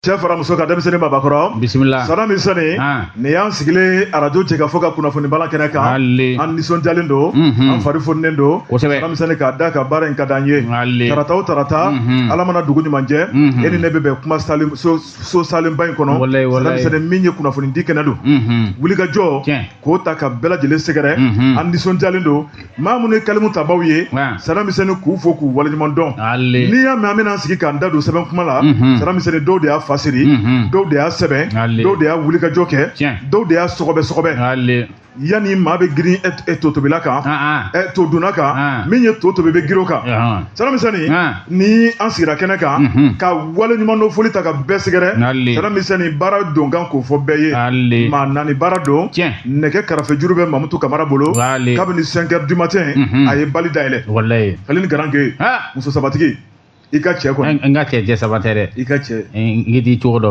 cɛ fara muso kan denmisɛn ni maabakɔrɔ bisimila sara misɛnni nin y'an sigilen arajo jɛkafɔ ka kunnafoni bala kɛnɛ kan an nisɔndiyalen don an fari fonilen don sara misɛnni k'a da a kan baara in ka d'an ye tarata o tarata ala mana dugu ɲuman jɛ e ni ne bɛ bɛn kuma so salenba in kɔnɔ sara misɛnni min ye kunnafoni di kɛnɛ don wulikajɔ k'o ta ka bɛɛ lajɛlen sɛgɛrɛ an nisɔndiyalen don maa minnu ye kalimu tabaw ye sara misɛnni k'u fo k'u waleɲuman dɔn n'i y'a mɛn an bɛna sigi k'an da don sɛbɛn kuma la mhm. sara misɛnni dɔw de y'a fasiri mhm. dɔw de y'a sɛbɛn dɔw de y'a wulikajɔ kɛ dɔw de y'a sɔgɔbɛ sɔgɔbɛ yanni maa bɛ girin e, e to tobila kan ah, ah. e to dunna kan ah, min ye to tobi bɛ girin o kan sara misɛnni ni an sigira kɛnɛ kan mhm. ka waleɲumandɔn foli ta ka bɛɛ sɛgɛrɛ sara misɛnni baara don kan k'o fɔ bɛɛ ye maa naani baara don nɛgɛ karafe juru bɛ mamutu kamara bolo kabini cinq heures du matin mhm. a ye bali dayɛlɛ ale ni garanke muso sabatigi i ka cɛ kɔni n ka cɛ cɛ saba tɛ dɛ i ka cɛ n k'i cogo dɔ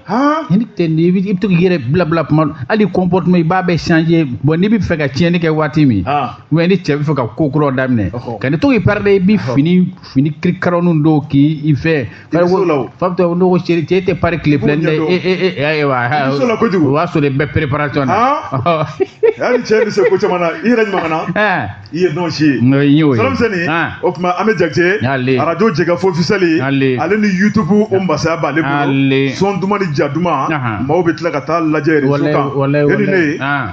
han ni tɛ n'i bɛ i bɛ to k'i yɛrɛ bila bila kuma dɔ hali comportement i b'a bɛɛ changer bon n'i bɛ fɛ ka tiɲɛni kɛ waati min han ou bien ni cɛ bɛ fɛ ka ko kuraw daminɛ Ɔhɔ. ka ne to k'i pari dɛ i bɛ fini fini kirikaroninw don k'i i fɛ so la o. fa bɛ to n'o ko cɛ cɛ tɛ pari tile fila K'u ɲɛ dɛ dɔn. e e e ayiwa I so la kojugu. o b'a sɔrɔ i bɛ préparation na han hali cɛ bɛ se ko caman na i yɛrɛ ɲuman na Ɛɛ. i ye dɔn si ye n'o ye y'o ye sara misɛnni o tuma an bɛ jakite arajo jɛkafɔ officiel ale ni youtube o masaya b'ale bolo son duman ni ja duman maaw bɛ tila ka taa lajɛ rezo kan e ni ne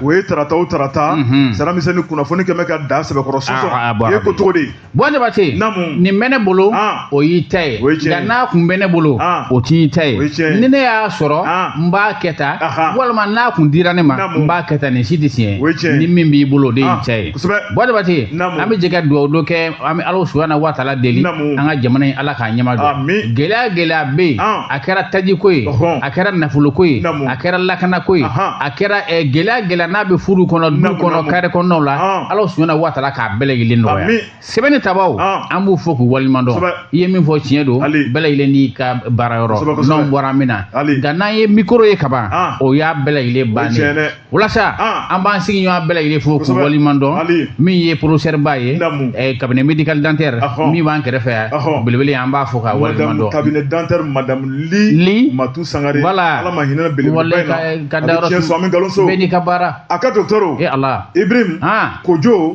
o ye tarata o tarata sara misɛnni kunnafoni kɛmɛ ka da sɛbɛkɔrɔ sɔsɔ e ko cogo di buwa jabate naamu nin bɛ ne bolo o y'i ta ye nka n'a kun bɛ ne bolo ah. o t'i ta ye ni ne y'a sɔrɔ ah. n b'a kɛ tan walima n'a kun dira ne ma n b'a kɛ tan nin si tɛ tiɲɛ ni min b'i bolo o de y'i ah. ta ye buwa jabate an bɛ jɛ ka dugawu dɔ kɛ an bɛ ala subahana wa taala deli an ka jamana in ala k'a ɲɛma dɔn gɛlɛya gɛlɛya bɛ yen a kɛra tajiko ye a kɛra nafoloko ye a kɛra lakanako ye a kɛra eh, gɛlɛya gɛlɛya n'a bɛ furu kɔnɔ du kɔnɔ kare kɔnɔnaw la ala subahana wa taala k'a bɛɛ lajɛlen nɔgɔya sɛbɛnni tabaw ah. an b'u fo k'u waleɲuman dɔn i ye min fɔ tiɲɛ don bɛɛ lajɛlen n'i ka baara yɔrɔ n'anw bɔra min na nka n'an ye mikoro ye kaban ah. o y'a bɛɛ lajɛlen bannen walasa ah. an b'an sigiɲɔgɔn bɛɛ lajɛlen fo k'u waleɲuman dɔn min ye porosɛriba ye eh, cabinet médical dentaire min b'an kɛrɛfɛ yan belebele an b'a fo k'a waleɲuman dɔn cabinet dentaire madame li matu sangare wala ala ma hinɛ belebele ka ka dayɔrɔ bɛɛ n'i ka baara a ka dɔgɔtɔrɔ e ala ibrim kojo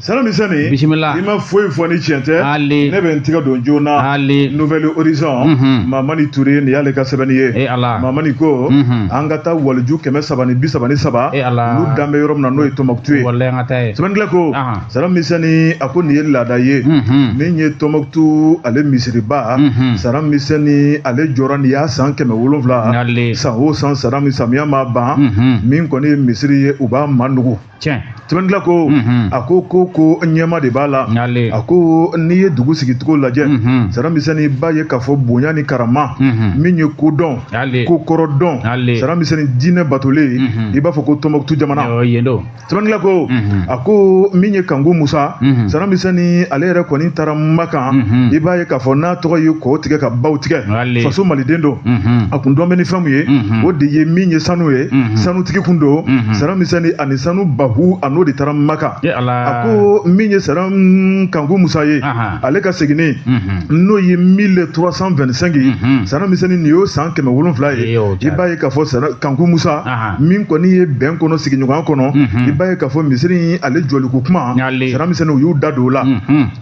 Saramisɛnni bisimila i ma foyi fɔ ni cɛn tɛ ne bɛ n tɛgɛ don joona Nouvel Horizon Mamani Ture nin y'ale ka sɛbɛnni ye Mamani ko an ka taa waliju kɛmɛ saba ni bi saba ni saba olu da bɛ yɔrɔ min na n'o ye Tɔnbɔkutu ye sɛbɛnnikɛla ko sara misɛnni a ko nin ye laada ye min ye Tɔnbɔkutu ale misiriba sara misɛnni ale jɔra nin y'a san kɛmɛ wolonwula san o san sara samiya ma ban min kɔni ye misiri ye u b'a manugu tiɲɛ sɛbɛnnikɛla ko Mhm. a ko ko ko ɲɛma de b'a la Nale. a ko n'i ye dugu sigicogo lajɛ Mhm. saramisɛnni i b'a ye k'a fɔ bonya ni karama Mhm. min ye kodɔn Nale. kokɔrɔdɔn Nale. saramisɛnni diinɛ batolen Mhm. i b'a fɔ ko tɔnbɔkutu jamana Ɔ, yen don sɛbɛnnikɛla ko Mhm. a ko min ye kanku musa Mhm. saramisɛnni ale yɛrɛ kɔni taara makan Mhm. i b'a ye k'a fɔ n'a tɔgɔ ye kɔw tigɛ ka baw tigɛ faso maliden don a kun dɔn bɛ ni fɛn min ye o de ye min ye sanu ye sanutigi kun don sara misɛnni ani sanu bahu a n'o de taara makan a ko min ye sara kanku musa ye ale ka seginni n'o ye mille trois cent vingt-cinq sara misɛnnin nin y'o san kɛmɛ wolonwula ye i b'a ye k'a fɔ kanku musa min kɔni ye bɛn kɔnɔ sigiɲɔgɔnya kɔnɔ i b'a ye k'a fɔ misiri ale jɔliko kuma sara misɛnnin u y'u da don o la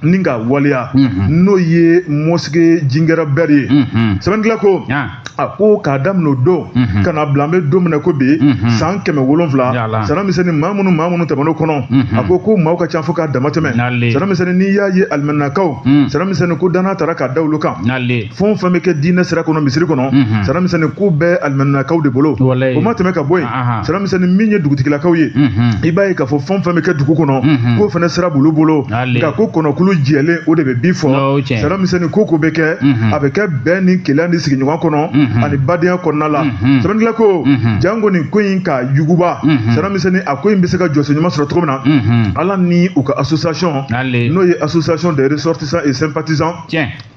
ni ka waleya n'o ye mosquée jingɛrɛ bɛri ye sɛbɛnnikɛla ko a ko k'a daminɛ o don ka na bila an bɛ don min na ko bi san kɛmɛ wolonwula sara misɛnni maa minnu maa minnu tɛmɛn'o kɔnɔ a ko ko maaw ka ca fo k'a dama tɛmɛ sara misɛnni n'i y'a ye alimaminakaw sara misɛnni ko danna taara k'a da olu kan fɛn o fɛn bɛ kɛ diinɛ sira kɔnɔ misiri kɔnɔ mhm. sara misɛnni ko bɛɛ alimaminakaw de bolo o ma tɛmɛ ka bɔ yen sara misɛnni min ye dugutigilakaw ye mhm. i b'a ye k'a fɔ fɛn o fɛn bɛ kɛ dugu kɔnɔ mhm. k'o fana sira b'olu bolo nka ko kɔnɔkulu jɛlen o de bɛ bii fɔ sara misɛnni ko ko bɛ kɛ a bɛ kɛ bɛn ni kelenya ni sigiɲɔgɔn kɔnɔ ani badenya kɔnɔna la sɛbɛnnikila ko janko nin ko in ka yuguba sara misɛnni a ko in bɛ se ka jɔsen ɲuman sɔrɔ cogo min na ala ni u ka association n'o ye association des ressortissants et sympathisants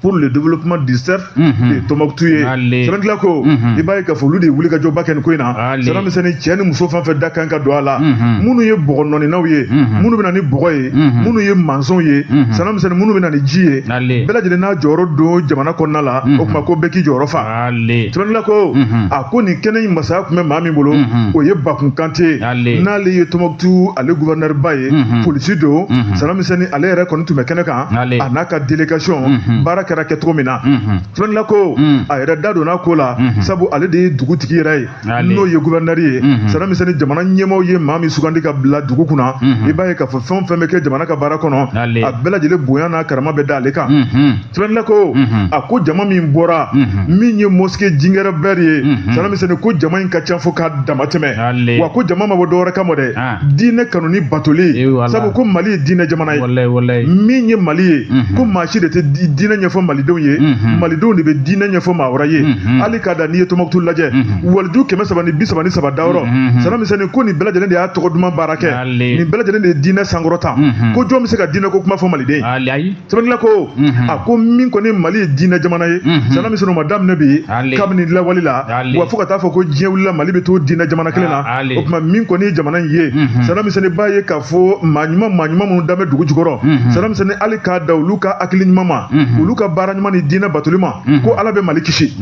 pour le développement du cercle de Tombouctou ye sɛbɛnnikɛla ko i b'a ye k'a fɔ olu de ye wulikajɔba kɛ nin ko in na sara misɛnnin cɛ ni muso fɛn o fɛn da kan ka don a la minnu ye bɔgɔ nɔɔninaw ye minnu bɛ na ni bɔgɔ ye minnu ye mansɔnw ye sara misɛnnin minnu bɛ na ni ji ye bɛɛ lajɛlen n'a jɔyɔrɔ don jamana kɔnɔna la o tuma ko bɛɛ k'i jɔyɔrɔ fa sɛbɛnnikɛla ko a ko nin kɛnɛ in masaya tun bɛ maa min bolo o ye Bakun Kante n'ale ye Tombouctou ale gouverneur ba ye polisi don sara misɛnnin ale yɛrɛ kɔni tun bɛ kɛnɛ kan ale a n'a ka délégation unhun baara kɛra kɛ cogo min na unhun sɛbɛnnikɛla ko Mm. a yɛrɛ da donna ko la Mhm. sabu ale de ye dugutigi yɛrɛ ye Ale. n'o ye gouverneur ye Mhm. sara misɛnni jamana ɲɛmaaw ye maa min sugandi ka bila dugu kunna Mhm. i b'a ye k'a fɔ fɛn o fɛn bɛ kɛ jamana ka baara kɔnɔ Ale. a bɛɛ lajɛlen bonya n'a karama bɛ da ale kan unhun sɛbɛnnikɛla ko Mhm. a ko jama min bɔra Mhm. min ye mosquée jingɛrɛ bɛri ye Mhm. sara misɛnni ko jama in ka ca fo k'a damatɛmɛ Ale. wa ko jama ma bɔ dɔwɛrɛ kama dɛ Ah. diinɛ kanu ni batoli sabu ko mali ye diinɛ jamana ye min ye mali ye mhm. ko maa si de tɛ diinɛ ɲɛfɔ malidenw ye mhm. malidenw de bɛ diinɛ ɲɛfɔ maa wɛrɛ ye mhm. hali k'a da n'i ye tɔmɔkutu lajɛ waliju kɛmɛ saba ni bi saba ni saba dayɔrɔ sara misɛnnin ko nin bɛɛ lajɛlen de y'a tɔgɔ duman baara kɛ nin bɛɛ lajɛlen de ye diinɛ sankɔrɔta ko jɔn bɛ se ka diinɛ ko kuma fɔ maliden sɛbɛndila ko mhm. a ko min kɔni mali ye diinɛ jamana ye mhm. sara misɛnnin o ma daminɛ bi kabini lawali la wa fo ka taa fɔ ko diɲɛ wulila mali bɛ to diinɛ jamana kelen na ah, o tuma min kɔni ye jamana in ye mhm. sara misɛnnin b'a ye k'a fɔ maa ɲuman maa ɲuman minnu dalen bɛ dugu jukɔrɔ sara misɛnnin hali k'a da olu ka hakili ɲuman ma olu ka baara ɲuman ni diinɛ batoli ma ko ala bɛ mali kisi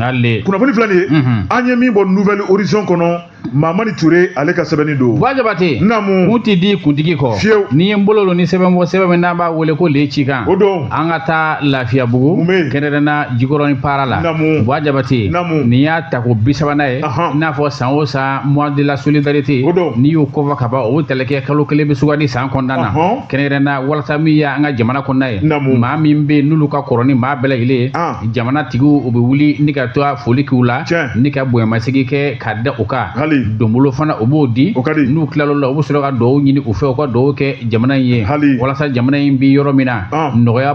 kunnafoni filɛ nin ye an ye min bɔ nouvel horizon kɔnɔ Mamani Ture ale ka sɛbɛnni don. Bua Jabate. N namu. Kun tɛ di kuntigi kɔ. Fiyew. N'i ye n bolo don ni sɛbɛn bɔ sɛbɛn min n'an b'a wele ko le cikan. O don. An ka taa Lafiyabugu. Mun bɛ yen. Kɛnɛrɛnna Jikɔrɔni para la. N namu. Bua Jabate. N namu. Nin y'a tako bi sabanan ye. Ahan. I n'a fɔ san o san mois de la solidarité. O don. N'i y'o kofɔ ka ban o tɛlɛkɛ kalo kelen bɛ sugandi san kɔnɔna na. Ɔhɔn. Kɛnɛrɛnna walasa min y'an ka jamana kɔnɔna ye. N namu. Maa min bɛ yen n'olu ka kɔrɔ ni maa bɛɛ lajɛlen ye. An. Jamana tigiw u bɛ wuli ni ka taa foli k'u la. Tiɲɛ. Ni ka bonyamasegin kɛ ka da u kan hali donbolo fana u b'o di o ka di n'u tilal'o la u bɛ sɔrɔ ka dugawu ɲini u fɛ u ka dugawu kɛ jamana in ye hali walasa jamana in bɛ yɔrɔ min na ah. nɔgɔya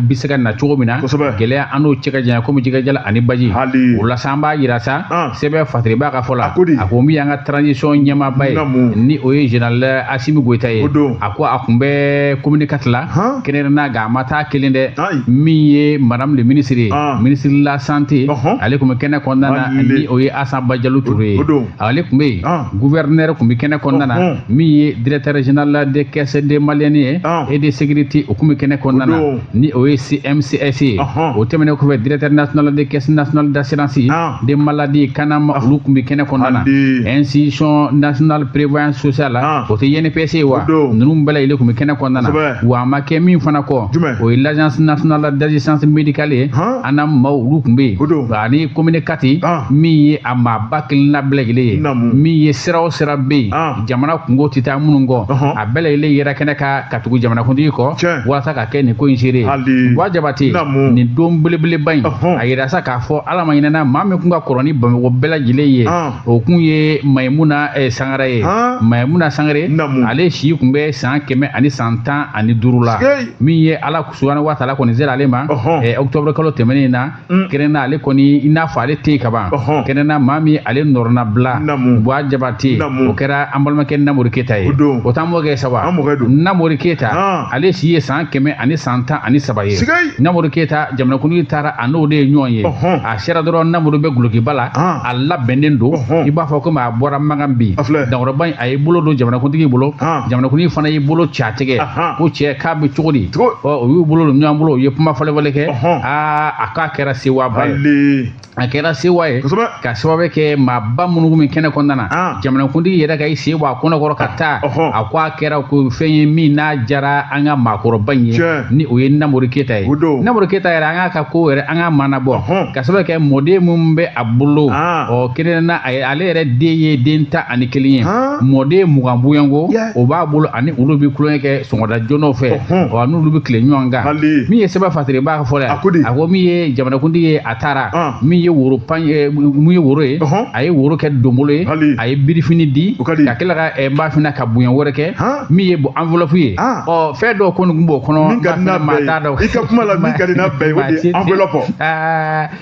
bɛ se ka na cogo min na kosɛbɛ gɛlɛya an n'o cɛ ka janya komi jɛgɛ jalan ani baji hali o la sa an b'a jira sa ah. sɛbɛn fasiribaa ka fɔ la a ko di a ko min y'an ka transition ɲɛmaaba ye ni o ye général Asimi Goyita ye a ko a tun bɛ commune quatre la kɛnɛrɛnna nka a ma taa kelen dɛ min ye madame le ministre ye ah. ministre de la santé ale tun bɛ kɛnɛ kɔnɔna na ni o ye Asa Bajalo Ture ye ale tun bɛ yen ah. gouverneur tun bɛ kɛnɛ kɔnɔna na oh, oh. min ye directeur général de caisse de malien ye ah. et de sécurité o tun bɛ kɛnɛ kɔnɔna na ni o ye CMCS ye o tɛmɛnen kɔfɛ directeur national de caisse nationale d'assurance ah. de maladie CANAM olu tun bɛ kɛnɛ kɔnɔna na institution nationale prévoyance sociale o tɛ INPS ye wa ninnu bɛɛ lajɛlen tun bɛ kɛnɛ kɔnɔna na wa a ma kɛ min fana kɔ o ye l'agence nationale d'assistance médicale ye ANAM maaw olu tun bɛ yen ani commune quatre ah. min ye a maaba kelenna bɛɛ lajɛlen ye min ye sira o sira bɛ yen ah. jamana kunko tɛ taa minnu kɔ a bɛɛ lajɛlen yera kɛnɛ kan ka tugu jamanakuntigi kɔ walasa ka kɛ nin ko in seere ye bua jabate nin don belebeleba in a yira sa k'a fɔ ala ma ɲinan na maa min kun ka kɔrɔ ni bamakɔ bɛɛ lajɛlen ye ah. o kun ye mayimuna eh, sangare ye mayimuna sangare ale si kun bɛ san kɛmɛ ani san tan ani duuru la min ye ala subahana wa taala kɔni sera ale ma eh, octobre kalo tɛmɛnen na mm. kɛnɛna ale kɔni i n'a fɔ ale tɛ kaban kɛnɛna maa min ale nɔrɔna bila buwa jabate o kɛra an balimakɛ namori keyita ye o t'an mɔkɛ saba namori keyita ah. ale si ye san kɛmɛ ani san tan ani saba ye namori keyita jamanakuntigi taara a n'o de ye ɲɔgɔn ye a sera dɔrɔn namori bɛ gulokiba la ah. a labɛnnen don i b'a fɔ komi a bɔra makan bi dankɔrɔba in a y'i bolo don jamanakuntigi bolo ah. jamanakuntigi fana y'i bolo ci a tigɛ ko cɛ k'a bɛ cogo di o y'u bolo don ɲɔgɔn bolo u ye kuma falenfalen kɛ aa a k'a kɛra sewaba ye a kɛra sewa ye ka sababu kɛ maaba minnu min kɛnɛ kɔnɔna na jamanakuntigi yɛrɛ ka i sen bɔ a kɔnɔkɔrɔ ka taa a ko a kɛra ko fɛn ye min diyara an ka maakɔrɔba in ye ni o ye namori keyita ye namori keyita yɛrɛ an k'a ka ko yɛrɛ an ka mana bɔ ka sababu kɛ mɔden minnu bɛ a bolo ɔ kelen na ale yɛrɛ den ye den tan ani kelen ye mɔden mugan bɔɲɔgɔnko o b'a bolo ani olu bɛ tulonkɛ kɛ sɔgɔmada joona fɛ wa n'olu bɛ tile ɲɔgɔn kan min ye sɛbɛn fatiri b'a fɔ yan a ko min ye jamanakuntigi ye a taara min ye woro pan min ye woro ye a ye woro kɛ donbolo ye a ye birifini di ka tila ka ban fana ka bonya wɛrɛ kɛ min ye bon enveloppe ye ɔ fɛn dɔw kɔni tun b'o kɔnɔ maa t'a dɔn i ka kuma la min ka di n'a bɛɛ ye enveloppe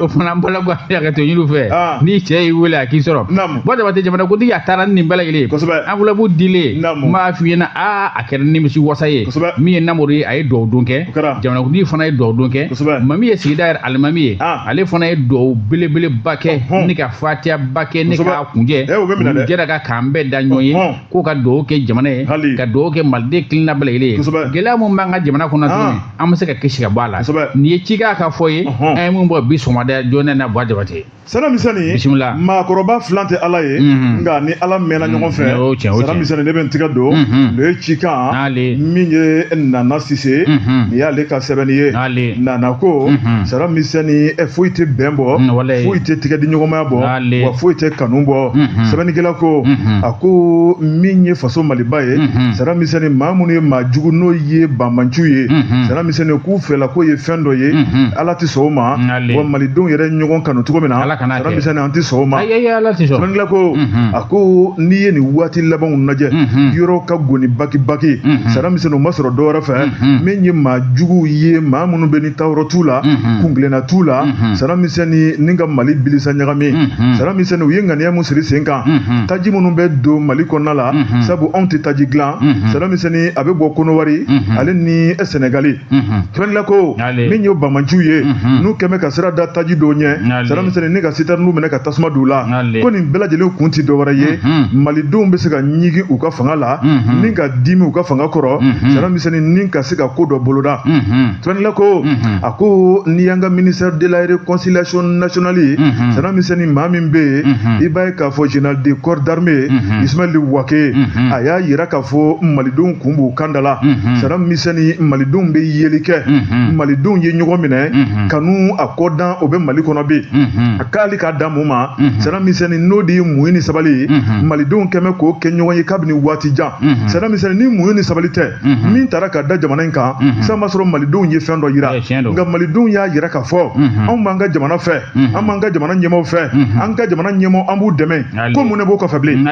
o fana n b'a la ko a ka to ɲini fɛ n'i cɛ y'i wele a k'i sɔrɔ buwa jabate jamana kuntigi a taara ni nin bɛɛ lajɛlen ye enveloppe dilen n b'a f'i ɲɛna aa a kɛra nimisi wasa ye min ye namori ye a ye dugawu don kɛ jamanakuntigi fana ye dugawu don kɛ maa min ye sigida yɛrɛ alimami ye ale fana ye dugawu belebeleba kɛ ni ka fatiyaba kɛ ni ka kunjɛ jɛra ka k'an bɛɛ da ɲɔgɔn ye k'o ka dugawu kɛ jamana ye Hali. ka dugawu kɛ maliden kelenna bɛɛ lajɛlen ye Kosɛbɛ. gɛlɛya min b'an ka jamana kɔnɔ tuguni Ah. an bɛ se ka kisi ka bɔ a la Kosɛbɛ. nin ye cikan ka fɔ ye Ɔhɔn. an ye min bɔ bi sɔgɔmada joona na buwa jabate sara misɛnni Bisimila. maakɔrɔba filan tɛ ala ye Mhm. nka ni ala mɛnna ɲɔgɔn fɛ o ye tiɲɛ, o ye sara tiɲɛ. misɛnni ne bɛ n tigɛ don Mhm. nin ye cikan N'ale. min ye nana sise Mhm. nin y'ale ka sɛbɛnni ye N'ale. nana ko Mhm. sara misɛnni eh, foyi tɛ bɛn bɔ Mm, walayi. foyi tɛ tigɛ di ɲɔgɔnmaya bɔ N'a- wa foyi tɛ kanu bɔ sɛbɛnnikɛla ko a ko min ye faso maliba ye sara misɛnnin maa minnu ye maa jugu n'o ye banbaanciw ye sara misɛnnin k'u fɛla k'o ye fɛn dɔ ye ala tɛ sɔn o ma wa malidenw yɛrɛ ɲɔgɔn kanu cogo min na sara misɛnnin an tɛ sɔn o ma sɛbɛnnikɛla ko a ko n'i ye nin waati labanw lajɛ yɔrɔ ka goni bakibaki sara misɛnnin o ma sɔrɔ dɔ wɛrɛ fɛ min ye maa jugu ye maa minnu bɛ tayɔrɔ t'u la kungilenna t'u la sana misɛnnin ni ka mali bilisa ɲagami sana misɛnnin u ye ŋaniya min siri sen kan taji minnu bɛ don mali kɔnɔna la sabu anw tɛ taji dilan sana misɛnnin a bɛ bɔ kɔnɔwari ale ni sɛnɛgali sɛbɛnnila ko min ye bamanciw ye n'u kɛmɛ ka sira da taji dɔw ɲɛ sana misɛnnin ni ka sitɛriniw minɛ ka tasuma don u la ko nin bɛɛ lajɛlen kun tɛ dɔ wɛrɛ ye malidenw bɛ se ka ɲigin u ka fanga la ni ka dimi u ka fanga kɔrɔ sana misɛnnin ni ka se ka ko dɔ boloda Sɛbɛnnila ko a ko n'i y'an ka ministère de la réconciliation nationale sana misɛnnin maa min bɛ yen i b'a ye k'a fɔ général de corps d'armée ye Ismaël Wagué a y'a yira k'a fɔ malidenw kun b'u kandala sana misɛnnin malidenw bɛ yeli kɛ malidenw ye ɲɔgɔn minɛ kanu a kɔdan o bɛ mali kɔnɔ bi a k'ale k'a da mun ma sana misɛnnin n'o de ye muɲu ni sabali malidenw kɛmɛ k'o kɛ ɲɔgɔn ye kabini waati jan sana misɛnnin ni muɲu ni sabali tɛ Mhm. min taara ka da jamana in kan mhm. san b'a sɔrɔ malidenw ye fɛn dɔ yira nka malidenw y'a yira k'a fɔ mhm. anw b'an ka jamana fɛ an b'an ka jamana ɲɛmaaw fɛ an ka jamana ɲɛmaaw an b'u dɛmɛ ko mun ne b'o kɔfɛ bilen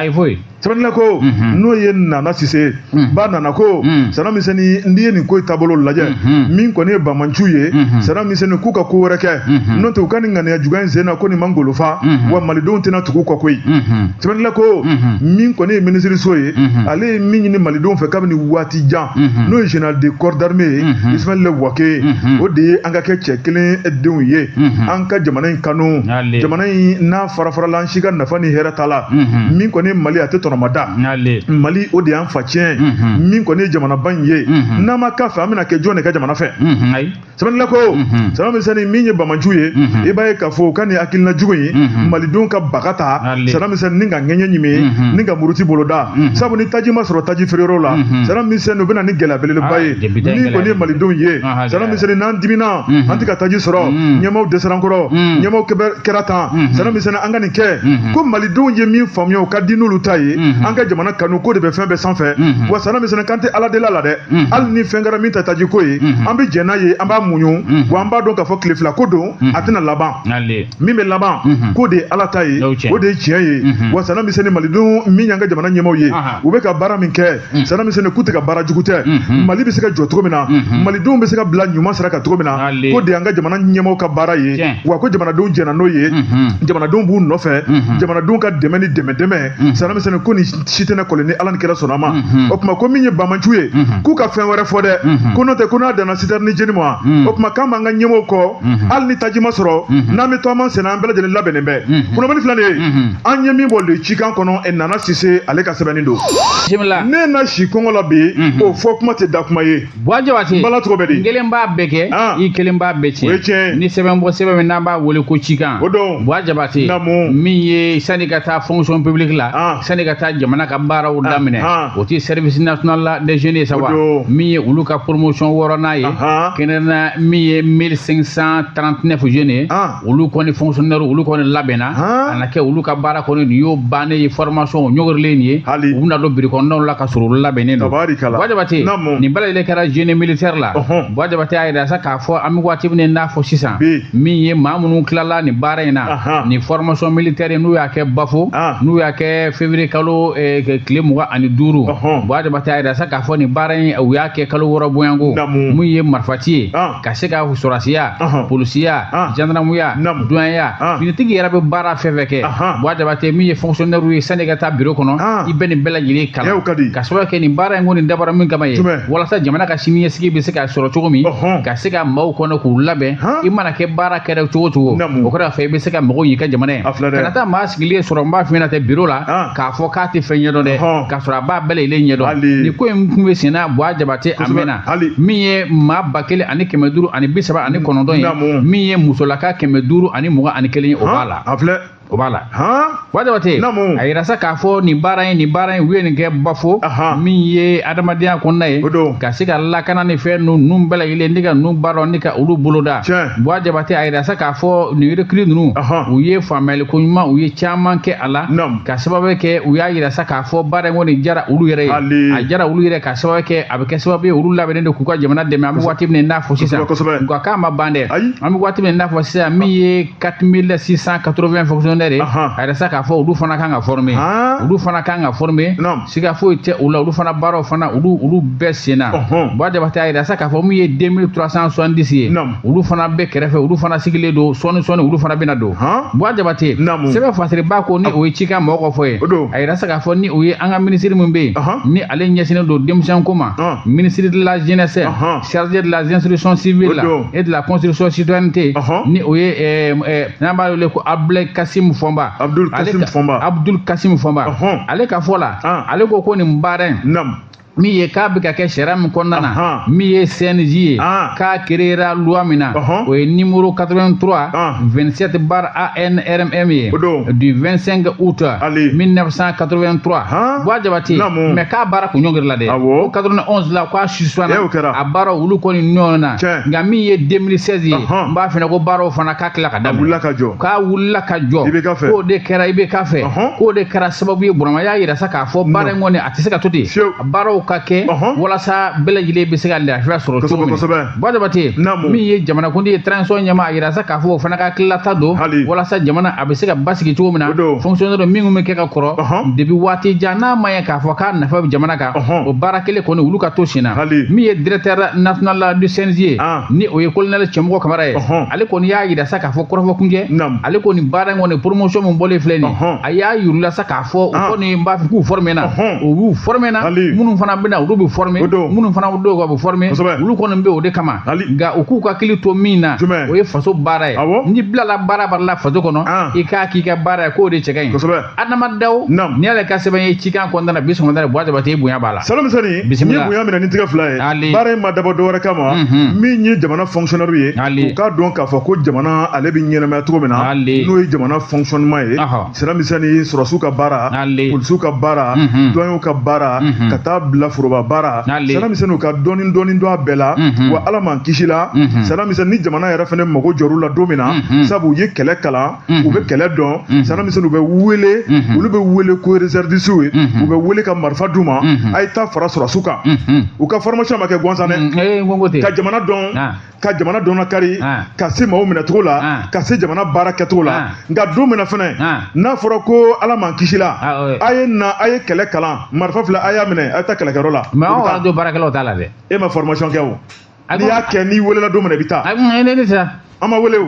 sɛbɛnnila ko n'o ye nana sise ba nana ko sana misɛnni n'i ye nin ko taabolo lajɛ min kɔni ye bamanciw ye sana misɛnni k'u ka ko wɛrɛ kɛ n'o tɛ u ka nin ŋaniya juguya in sen na ko nin man golofa wa malidenw tɛna tugu kɔ koyi sɛbɛnnila ko min kɔni ye minisiriso ye ale ye min ɲini denw fɛ kabini waati jan mhm. n'o ye général de corps d'armée ye mhm. Ismaël Wagué mhm. o de ye an ka kɛ cɛ kelen denw ye an ka jamana in kanu jamana in n'a fara farala an si ka nafa ni hɛrɛ t'a la min kɔni Mali a tɛ tɔnɔmada Mali o de y'an fatiɲɛ min kɔni ye jamanaba in ye n'an ma k'a fɛ an bɛna kɛ jɔn de ka jamana fɛ sɛbɛnnila ko mhm. sana misɛnnin min ye bamanciw ye mhm. i b'a ye k'a fɔ u ka nin hakilina jugu in mhm. malidenw ka baga ta sana misɛnnin ni ka ŋɛɲɛ ɲimi ni ka muruti boloda sabu ni taji ma sɔrɔ taji feereyɔrɔ la sana misɛnnin u bɛ na ni gɛlɛya belebeleba ah, ye min kɔni ye malidenw ye sana misɛnnin n'an dimina an tɛ ka taji sɔrɔ ɲɛmaaw dɛsɛra an kɔrɔ ɲɛmaaw kɛra tan sana misɛnnin an ka nin kɛ ko malidenw ye min faamuya o ka di n'olu ta ye an ka jamana kanu ko de bɛ fɛn bɛɛ sanfɛ wa sana misɛnnin k'an tɛ ala deli a la dɛ Mm-hmm. hali ni fɛn kɛra min ta taji ko ye mm-hmm. an bɛ jɛn n'a ye an b'a muɲu mm-hmm. wa an b'a dɔn k'a fɔ tile fila ko don a tɛna laban min bɛ laban k'o de ye ala ta ye o de ye tiɲɛ ye wa sana misɛnni malidenw min y'an ka jamana ɲɛmaaw ye u bɛ ka baara min kɛ mm. sana misɛnni k'u tɛ ka baara jugu tɛ mali bɛ se ka jɔ cogo min na malidenw bɛ se ka bila ɲuman sira kan cogo min na k'o de y'an ka jamana ɲɛmaaw ka baara ye wa ko jamanadenw jɛnna n'o ye jamanadenw b'u nɔfɛ jamanadenw ka dɛmɛ ni dɛmɛ dɛmɛ sana misɛnni ko ni si tɛna kɔlɔn ni ala ni kira sɔnna a ma mhm. o tuma ko min ye bamanciw ye mhm. k'u ka fɛn wɛrɛ fɔ dɛ mhm. ko n'o tɛ ko n'a danna sitɛrini jeni ma o tuma k'an b'an ka ɲɛmaaw kɔ hali ni taji ma sɔrɔ n'an bɛ taama senna an bɛɛ lajɛlen labɛnnen bɛ kunnafoni filanan ye an ye min bɔ le cikan kɔnɔ e nana sise ale ka sɛbɛnni don ne na si kɔngɔ la bi o fɔ kuma tɛ da kuma ye Buwa Jabate n bala cogo bɛ di i kelen b'a bɛɛ kɛ ah. i kelen b'a bɛɛ tiɲɛ o ye tiɲɛ ni sɛbɛn bɔ sɛbɛn min n'an b'a wele ko cikan o don Buwa Jabate min ye sani ka taa fonction publique la ah. sani ka taa jamana ka baaraw ah. daminɛ o tɛ service national des jeunes ye sa wa min ye olu ka promotion wɔɔrɔnan ye kɛnɛrɛnna min ye 1539 jeunes ye olu kɔni fonctionnaire olu kɔni labɛnna a na kɛ olu ka baara kɔni nin y'o bannen ye formation ɲɔgɔrilen nin ye u bɛna don biro kɔnɔnaw la ka sɔrɔ olu labɛnnen don Buwa Jabate nin bɛɛ lajɛlen kɛra génie militaire la Buwa Jabate y'a yira sa k'a fɔ an bɛ waati min n'a fɔ sisan min ye maa minnu tilala nin baara in na nin formation militaire in n'u y'a kɛ Bafo n'u y'a kɛ février kalo eh, tile mugan ani duuru Buwa Jabate y'a yira sa k'a fɔ nin baara in u y'a kɛ kalo wɔɔrɔ Buwa ko min ye marifati ye ka se ka sɔrasiya polisiya jandarmuya duwanya finitigi yɛrɛ bɛ baara fɛn fɛn kɛ Buwa Jabate min ye fonctionnaire ye sani ka taa biro kɔnɔ i bɛ nin bɛɛ lajɛlen kalan ka sababu kɛ nin baara in ko nin dabɔra min kama ye walasa jamana ka siniɲɛsigi bɛ se ka sɔrɔ cogo min ka se ka maaw kɔnɔ k'u labɛn i mana kɛ baarakɛla cogo cogo o kɔfɛ i bɛ se ka mako ɲ'i ka jamana ye kana taa maa sigilen sɔrɔ n b'a f'i ɲɛna ten biro la k'a fɔ k'a tɛ fɛn ɲɛdɔn dɛ k'a sɔrɔ a b'a bɛɛ lajɛlen ɲɛdɔn nin ko in tun bɛ senna Buwa Jabate a mɛnna hali min ye maa ba kelen ani kɛmɛ duuru ani bi saba ani kɔnɔntɔn ye Naamu. min ye musolaka kɛmɛ duuru ani mugan ani kelen ye o b'a la a filɛ o b'a la han Buwa Jabate Naamu. a yira sa k'a fɔ nin baara in nin baara in u ye nin kɛ Bafo Aha. min ye adamadenya kɔnɔna ye O don. ka se ka lakana ni fɛn ninnu ninnu bɛɛ lajɛlen ni ka ninnu baara dɔn ni ka olu boloda Tiɲɛ. Buwa Jabate a yira sa k'a fɔ nin recrue ninnu Aha. u ye faamuyali koɲuman u ye caman kɛ a la Naamu. ka sababu kɛ u y'a yira sa k'a fɔ baara in kɔni jara olu yɛrɛ ye Hali. a jara olu yɛrɛ ka sababu kɛ a bɛ kɛ sababu ye olu labɛnnen don k'u ka jamana dɛmɛ an bɛ waati min n'a fɔ sisan nka k'a ma ban dɛ an bɛ waati min n'a fɔ sisan min ye quatre mille six cent quatre-vingts fonctionnaires ye a yira sa k'a fɔ olu fana kan ka former olu fana kan ka former siga foyi tɛ u la olu fana baaraw fana olu olu bɛ senna Buwa Jabate a yira sa k'a fɔ min ye deux mille trois cent soixante-dix ye olu fana bɛ kɛrɛfɛ olu fana sigilen don sɔɔni sɔɔni olu fana bɛna don Buwa Jabate sɛbɛn fasiriba ko ni o ye cikan mɔgɔ fɔ ye a yira sa k'a fɔ ni o ye an ka minisiri min bɛ yen ni ale ɲɛsinnen don denmisɛnko ma ah. ministre de la jeunesse chargé de la instruction civile la et de la construction citoyenneté ni o ye eh, eh, n'an b'a wele ko Abdulayi Kasim Fɔnba Abdul Kasim Fɔnba Abdul Kasim Fɔnba ale ka fɔ la ah. ale ko ko nin baara in min ye k'a bɛ ka kɛ sariya min kɔnɔna na min ye SNJ ye k'a créera loi min na o ye numéro 83 27 barre ANRM ye du 25 août 1983 Buwa Jabate mais k'a baara kun ɲɔngiri la dɛ ko 91 la k'a suspendre a baara olu kɔni ɲɔgɔn na nka min ye 2016 ye n b'a f'i ɲɛ ko baaraw fana k'a tila ka daminɛ k'a wulila ka jɔ k'o de kɛra IBK fɛ k'o de kɛra sababu ye Burama y'a yira sa k'a fɔ baara in kɔni a tɛ se ka to ten baaraw ka kɛ walasa bɛɛ lajɛlen bɛ se ka lafiya sɔrɔ cogo min Buwa Jabate min ye jamanakuntigi ye transition ɲɛmaa a yira sa k'a fɔ o fana ka hakililata don walasa jamana a bɛ se ka basigi cogo min na fonctionnaire minnu bɛ kɛ ka kɔrɔ depuis waati jan n'a ma ye k'a fɔ k'a nafa bɛ jamana kan o baara kelen kɔni olu ka to sen na min ye directeur national du SNJ ye ah. ni o ye colonel Cɛmɔgɔ Kamara ye ale kɔni y'a yira sa k'a fɔ kɔrɔfɔkunjɛ ale kɔni baara in kɔni promotion min bɔlen filɛ nin ye a y'a yir'u la sa k'a fɔ u ah. kɔni n b'a fɔ k'u former na u y'u former na minnu fana bɛna olu bɛ former minnu fana dɔw ka bɛ former olu kɔni bɛ o de kama nka u k'u ka hakili to min na o ye faso baara ye n'i bilala baara baara la faso kɔnɔ ah. i k'a k'i ka baara ye k'o de cɛ ka ɲi Adama Daw n'i y'ale ka sɛbɛn ye cikan kɔnɔna na bi sɔgɔmada la buwa jabate bonya b'a la Sanamisɛnnin n ye bonya minɛ ni tigɛ fila ye baara in ma dabɔ dɔwɛrɛ kama mhm. min ye jamana fonctionnaire ye u k'a dɔn k'a fɔ ko jamana ale bɛ ɲɛnamaya cogo min na n'o ye jamana fonctionnement Sanamisɛnnin sɔrɔsiw ka baara polisiw ka baara douaniers ka baara ka taa bila foroba baara Sanamisɛnnin u ka dɔɔni dɔɔni dɔn a bɛɛ la wa ala m'an kisi la Sanamisɛnnin ni jamana yɛrɛ fɛnɛ mago jɔr'u la don min na sabu u ye kɛlɛ kalan u bɛ kɛlɛ dɔn Sanamisɛnnin u bɛ wele olu bɛ wele ko réservistes ye u bɛ wele ka marifa d'u ma a ye taa fara sɔrɔsiw kan u ka formation ma kɛ gansan dɛ ka jamana dɔn ka jamana dɔnna kari ah. ka se maaw minɛcogo la ah. ka se jamana baara kɛcogo la ah. nka don min na fɛnɛ n'a fɔra ko ala m'an kisi la a ye na a ye kɛlɛ kalan marifa filɛ a y'a minɛ a ye taa kɛlɛkɛyɔrɔ la mais anw radio baarakɛlaw t'a la dɛ e ma formation kɛ o n'i y'a kɛ n'i welela don min na i bɛ taa ne tɛ taa an ma wele o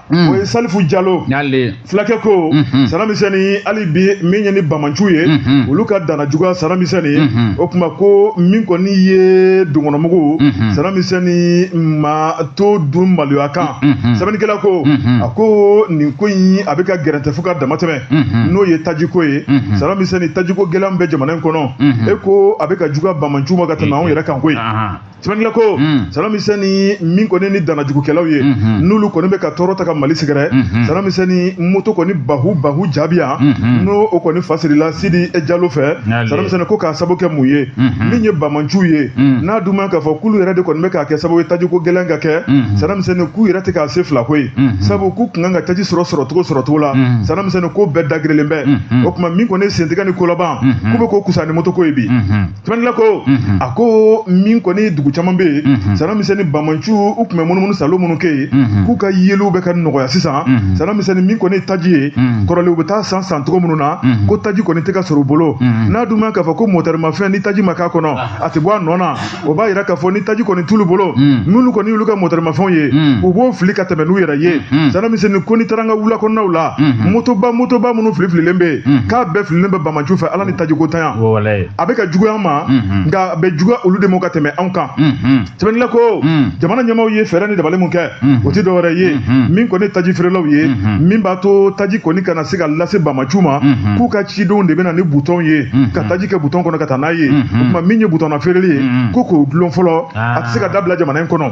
Mm. o ye salifu jalo fulakɛ ko mm-hmm. Sanamisɛnnin hali bi min ye ni banbaanciw ye mm-hmm. olu ka dana juguya Sanamisɛnnin mm-hmm. o tuma ko min kɔni ye donkɔnɔmugu Sanamisɛnnin ma to dun maloya kan sɛbɛnnikɛla ko a ko nin ko in a bɛ ka gɛrɛntɛ fo ka dama tɛmɛ n'o ye tajiko ye Sanamisɛnnin tajiko gɛlɛn bɛ jamana in kɔnɔ e ko a bɛ ka juguya banbaanciw ma ka tɛmɛ anw yɛrɛ kan koyi sɛbɛnnikɛla ko Sanamisɛnnin min kɔni ni danajugukɛlaw ye n'olu kɔni bɛ ka tɔɔrɔ ta ka mali sɛgɛrɛ Sanamisɛnnin moto kɔni bahu bahu jaabi yan n'o o kɔni fasirila sidi jalo fɛ Sanamisɛnnin ko k'a sabu kɛ mun ye min ye banbaanciw ye n'a dun man k'a fɔ k'olu yɛrɛ de kɔni bɛ k'a kɛ sababu ye tajiko gɛlɛn ka kɛ Sanamisɛnnin k'u yɛrɛ tɛ k'a se fila koyi sabu k'u ka kan ka taji sɔrɔ sɔrɔcogo sɔrɔcogo la Sanamisɛnnin ko bɛɛ dagirilen bɛ o tuma min kɔni sentigɛ ni kolaban k'u bɛ ko kusa ni moto ko ye bi Sɛbɛnnila ko a ko min kɔni dugu caman bɛ yen sanamisɛnnin bamanciw u tun bɛ munumunu saalo minnu kɛ yen k'u ka yeliw bɛ ka nɔgɔya sisan sanamisɛnnin min kɔni taji ye kɔrɔlen u bɛ taa san san cogo minnu na ko taji kɔni tɛ ka sɔrɔ u bolo n'a dun k'a fɔ ko mɔtɛrimafɛn ni taji ma k'a kɔnɔ a tɛ bɔ a nɔ na o b'a yira k'a fɔ ni taji kɔni t'olu bolo minnu kɔni y'olu ka mɔtɛrimafɛnw ye u b'o fili ka tɛmɛ n'u yɛrɛ ye sanamisɛnnin ko n'i taara an ka wula kɔnɔnaw la motoba motoba minnu filifililen bɛ yen k'a bɛɛ fililen bɛ bamanciw fɛ ala ni tajikotanya a bɛ ka juguya an ma nka a bɛ juguya olu de ma ka tɛmɛ anw kan sɛbɛnnila ko jamana ɲɛmaaw ye fɛɛrɛ ni dabali min kɛ o tɛ dɔwɛrɛ ye min kɔni taji feerelaw ye min b'a to taji kɔni kana se ka lase bamanciw ma k'u ka cidenw de bɛ na ni butɔn ye ka taji kɛ butɔn kɔnɔ ka taa n'a ye o tuma min ye butɔnna feereli ye ko k'o dulon fɔlɔ a tɛ se ka dabila jamana in kɔnɔ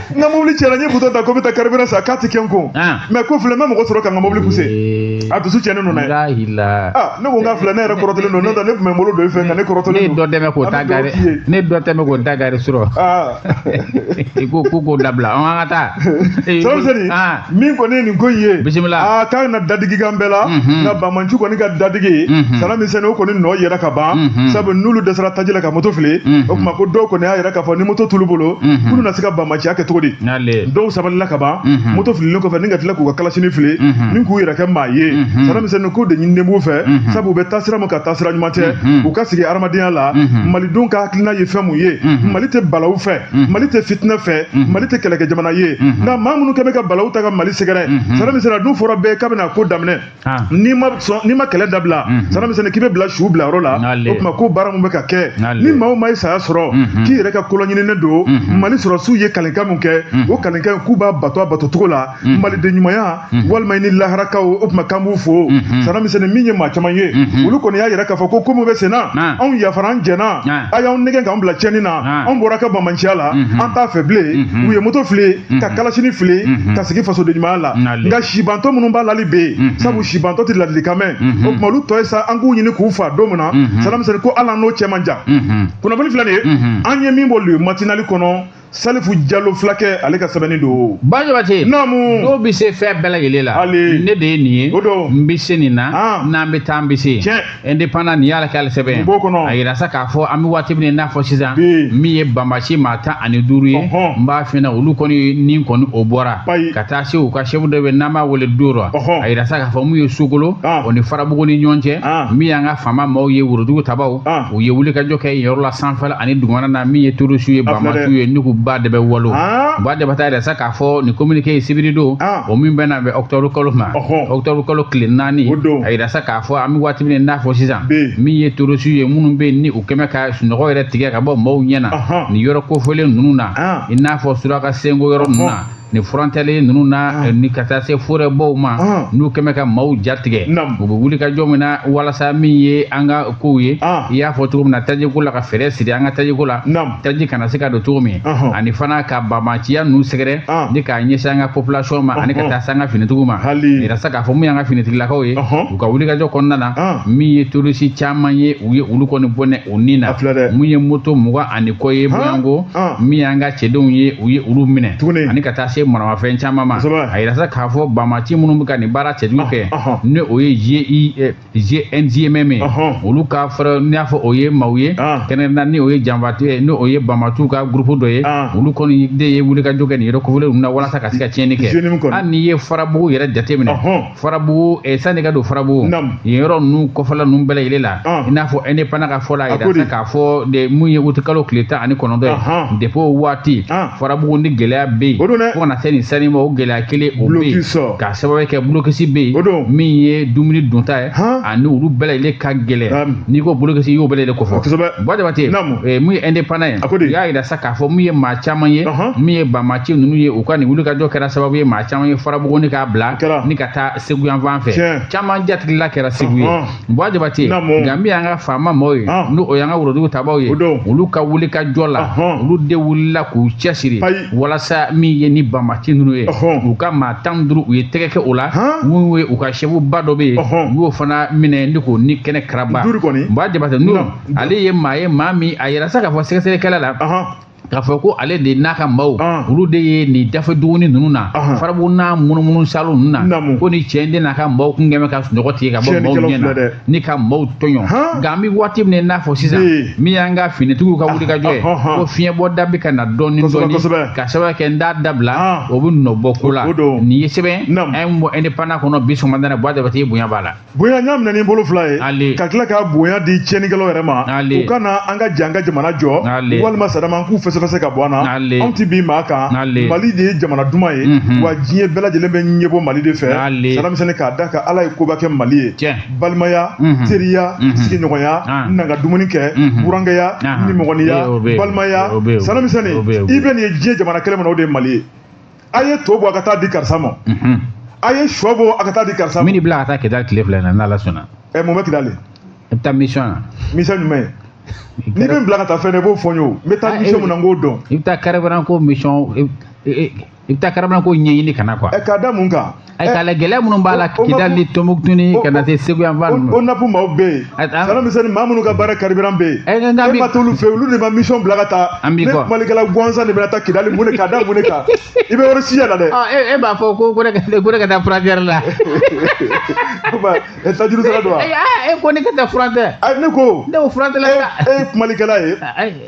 n ka mobili cɛnna n ye butɔn ta ko n bɛ taa carburant san k'a tɛ kɛ n kun ah. mais ko filɛ n bɛ mɔgɔ sɔrɔ ka n ka mobili pousser eh. a dusu cɛnnen don dɛ ah, ne ko n ka filɛ ne yɛrɛ kɔrɔtɔlen don n'o tɛ ne tun bɛ n bolo don i fɛ nka ne kɔrɔtɔlen don ne dɔ tɛmɛ k'o ta gare ne dɔ tɛmɛ k'o ta gare sɔrɔ ah. i ko ko k'o dabila an ka taa sɔrɔ seri min kɔni ye nin ko in ye bisimila aa ah, k'a na dadigi k'an bɛɛ la mhm. nka bamanciw kɔni ka dadigi mhm. sanamisɛnnin o kɔni nɔ yera ka ban mhm. sabu n'olu dɛsɛra taji la ka moto fili o tuma ko dɔw kɔni y'a yira k'a fɔ ni moto t'olu bolo k'olu na se ka bamanciya kɛ cogo di dɔw sabalila ka ban moto fililen kɔfɛ ni ka tila k'u ka kalasini fili ni k'u yɛrɛ kɛ maa ye sanamisɛnnin k'o de ɲininen b'u fɛ sabu u bɛ taasira min kan taasira ɲuman tɛ u ka sigi hadamadenya la malidenw ka hakilina ye fɛn mun ye mali tɛ balawu fɛ mhm. mali tɛ fitinɛ fɛ mhm. mali tɛ kɛlɛkɛ jamana ye mhm. nka maa minnu kɔni bɛ ka balawu ta ka mali sɛgɛrɛ sara misɛnnin a dun fɔra bɛɛ k'a bɛna ko daminɛ ah. n'i ma sɔn n'i ma kɛlɛ dabila sara misɛnnin k'i bɛ bila su bila yɔrɔ la o tuma ko baara min bɛ ka kɛ ni maa o maa ye saya sɔrɔ k'i yɛrɛ ka kolɔɲininen don mali sɔrɔsiw ye kalenkan min kɛ o kalenkan k'u b'a bato a batocogo la maliden ɲumanya walima ni laharakaw o tuma k'an b'u fo sanamisɛnnin min ye maa caman ye olu kɔni y'a yira k'a fɔ ko ko min bɛ senna anw yafara an jɛna a y'an nɛgɛn k'an bila cɛnni na anw bɔra ka bamanciya la an t'a fɛ bilen u ye moto fili ka kalasini fili ka sigi fasoden ɲumanya la nka sibantɔ minnu b'a la olu bɛ yen sabu sibantɔ tɛ ladilikan mɛn o tuma olu tɔ ye sa an k'u ɲini k'u fa don min na sanamisɛnnin ko ala n'o cɛ man jan kunnafoni filɛ nin ye an ye min bɔ le matinali kɔnɔ salifu jalo fulakɛ ale ka sɛbɛnni don bajabate naamu dɔw bɛ se fɛn bɛɛ lajɛlen la hali ne de ye nin ye o don n bɛ se nin na ah. n'an bɛ taa an bɛ se tiɲɛ indépendant nin y'ala k'ale sɛbɛn ye b'o kɔnɔ a yira sa k'a fɔ an bɛ waati min na i n'a fɔ sisan min ye banbaanci maa tan ani duuru ye n b'a f'i ɲɛna olu kɔni ni kɔni o bɔra ka taa se u ka sɛfu dɔ bɛ n'an b'a wele doro a yira sa k'a fɔ min ye sokolo ah. o ni farabugu ni ɲɔgɔn cɛ ah. min y'an ka faama maaw ye worojugu tabaaw u ye wulikajɔ kɛ yen yɔrɔ la sanfɛla ani dugumana na min ye terorisiw ye banbaanciw ye nugu ba de bɛ walo ah. ba de bɛ taa a yira sa k'a fɔ nin communiqué ye sibiri don ah. o min bɛ na bɛn octobre kalo ma octobre kalo tile naani a yira sa k'a fɔ an bɛ waati min na i n'a fɔ sisan min ye terorisiw ye minnu bɛ yen ni u kɛlen bɛ ka sunɔgɔ yɛrɛ tigɛ ka bɔ maaw ɲɛ na nin yɔrɔ kofɔlen ninnu na ah. i n'a fɔ suraka senko yɔrɔ ninnu na ni frontalier ninnu na ah. ni ka taa se forɛbaw ma ah. n'u kɛlen bɛ ka maaw jatigɛ u bɛ wulikajɔ min na walasa min ye an ka kow ye ah. i y'a fɔ cogo min na tajiko la ka fɛɛrɛ siri an ka tajiko la taji kana se ka don cogo min ani fana ka banbaanciya ninnu sɛgɛrɛ ni k'a ɲɛsin an ka population ma ani ka taa se an ka finitigiw ma a yira sa k'a fɔ min y'an ka finitigilakaw ye u ka wulikajɔ kɔnɔna na min ye terorisi caman ye u ye olu kɔni bɔnɛ u ni na min ye moto mugan ani kɔ ye Buwa n ko min y'an ka cɛdenw ye u ye olu minɛ ani ka taa se maramafɛn caman ma a yira sa k'a fɔ banbaanci minnu bɛ ka nin baara cɛjugu kɛ ni o ye JNIM ye olu ka fɛɛrɛ n'i y'a fɔ o ye maaw ye kɛnɛrɛnna ni o ye janfanciw ye ni o ye banbaanciw ka gurupu dɔ ye olu kɔni de ye wulikajɔ kɛ nin yɔrɔ kofɔlen ninnu na walasa ka se ka tiɲɛni kɛ hali n'i ye farabugu yɛrɛ jateminɛ farabugu eh, sani ka don farabugu Naamu. yen yɔrɔ ninnu kɔfɛla ninnu bɛɛ lajɛlen la Ah. i n'a fɔ indépendant ka fɔ la A ko di? a yira sa k'a fɔ min ye wuti kalo tile tan ani kɔnɔntɔn Ahan. ye depuis o waati Ah. farabugu ni gɛlɛya bɛ yen O don dɛ. fo ka na se nin sanni ma o gɛlɛya kelen o bɛ Blocus. yen k'a sababu kɛ bulokisi bɛ O yen don. min ye dumuni dunta ye Han. ani olu bɛɛ lajɛlen ka Am. gɛlɛn n'i ko bulokisi i y'o bɛɛ lajɛlen kofɔ Kosɛbɛ. Buwa Jabate Naamu. eh, min ye indépendant ye A ko di? u y'a jira sa k'a a fɔ min ye maa caman ye min ye banbaanci ninnu ye u ka nin wulikajɔ kɛra sababu ye maa caman ye farabugu ni k'a bila ni ka taa segu yanfan fɛ caman jatigila kɛra segu ye Buwa Jabate nka min y'an ka FAMa maaw ye n'o y'an ka worodugu tabaw ye olu ka wulikajɔ la olu de wulila k'u cɛsiri walasa min ye nin banbaanci ninnu ye u ka maa tan duuru u ye tɛgɛ kɛ o la min ye u ka chef ba dɔ bɛ yen u y'o fana minɛ ni k'o ni kɛnɛ karaba Buwa Jabate n'o ale ye maa ye maa min a yira sa k'a fɔ sɛgɛsɛgɛ kɛra a la k'a fɔ ko ale de n'a ka maaw olu de ye nin dafɛ duguni ninnu na farabugu n'a munumunu salo ninnu na ko ni cɛ in de n'a ka maaw tun kɛlen bɛ ka sunɔgɔ tigɛ ka bɔ maaw ɲɛ na ni ka maaw tɔɲɔ nka an bɛ waati min na i n'a fɔ sisan min y'an ka finitigiw ka wulikajɔ ye ko fiɲɛbɔ da bɛ ka na dɔɔni dɔɔni k'a sababu kɛ n t'a dabila o bɛ nɔ bɔ ko la nin ye sɛbɛn an ye bɔ indépendant kɔnɔ bi sɔgɔmada in na Buwa Jabate bonya b'a la. bonya n y'a minɛ ni bolo fila ye Ale. ka tila ka bonya di tiɲɛnikɛlaw yɛrɛ ma Ale. u ka na an ka jɛ an ka jamana jɔ Ale. walima Sadamu an k'u fɛsɛfɛsɛ ka bɔ an na Ale. anw tɛ bin maa kan Ale. mali de ye jamana duman ye Mhm. wa diɲɛ bɛɛ lajɛlen bɛ ɲɛbɔ mali de fɛ Ale. Sadamu Usɛni k'a da a kan ala ye koba kɛ mali ye Tiɲɛ. balimaya Mhm. teriya Mhm. sigiɲɔgɔnya Ah. na an ka dumuni kɛ Mhm. burankɛya Ah. nimɔgɔniya O bɛ yen. balimaya O bɛ yen. Sadamu Usɛni i bɛ nin ye diɲɛ jamana kelen min na o de ye mali ye a ye to bɔ a ka taa di karisa ma a ye shɔ bɔ a ka taa di karisa ma min bila ka taa kidali tile fila in na n'ala sɔnna ɛ mun bɛ kidali i bɛ taa mission na mission jumɛn ye n'i bɛ n bila ka taa fɛn na i b'o fɔ n ye o n bɛ taa mission mun na n k'o dɔn i bɛ taa carburant ko mission i bɛ taa carburant ko ɲɛɲini ka na quoi ɛ k'a da mun kan Ayiwa gɛlɛya minnu b'a la kidali ni tombouctou ka na se segu yan ONAP maaw bɛ yen sara misɛnni maa minnu ka baara carburant bɛ yen e ma t'olu fɛ olu de ma mi bila ka taa ne kumakɛla gansan de bɛ taa kidali mun k'a da mun de kan i bɛ yɔrɔ si la dɛ e b'a fɔ ko ne ka taa frontière la e taj don e ko ne ka taa frontière ne ko ne frontière la e ye kumakɛla ye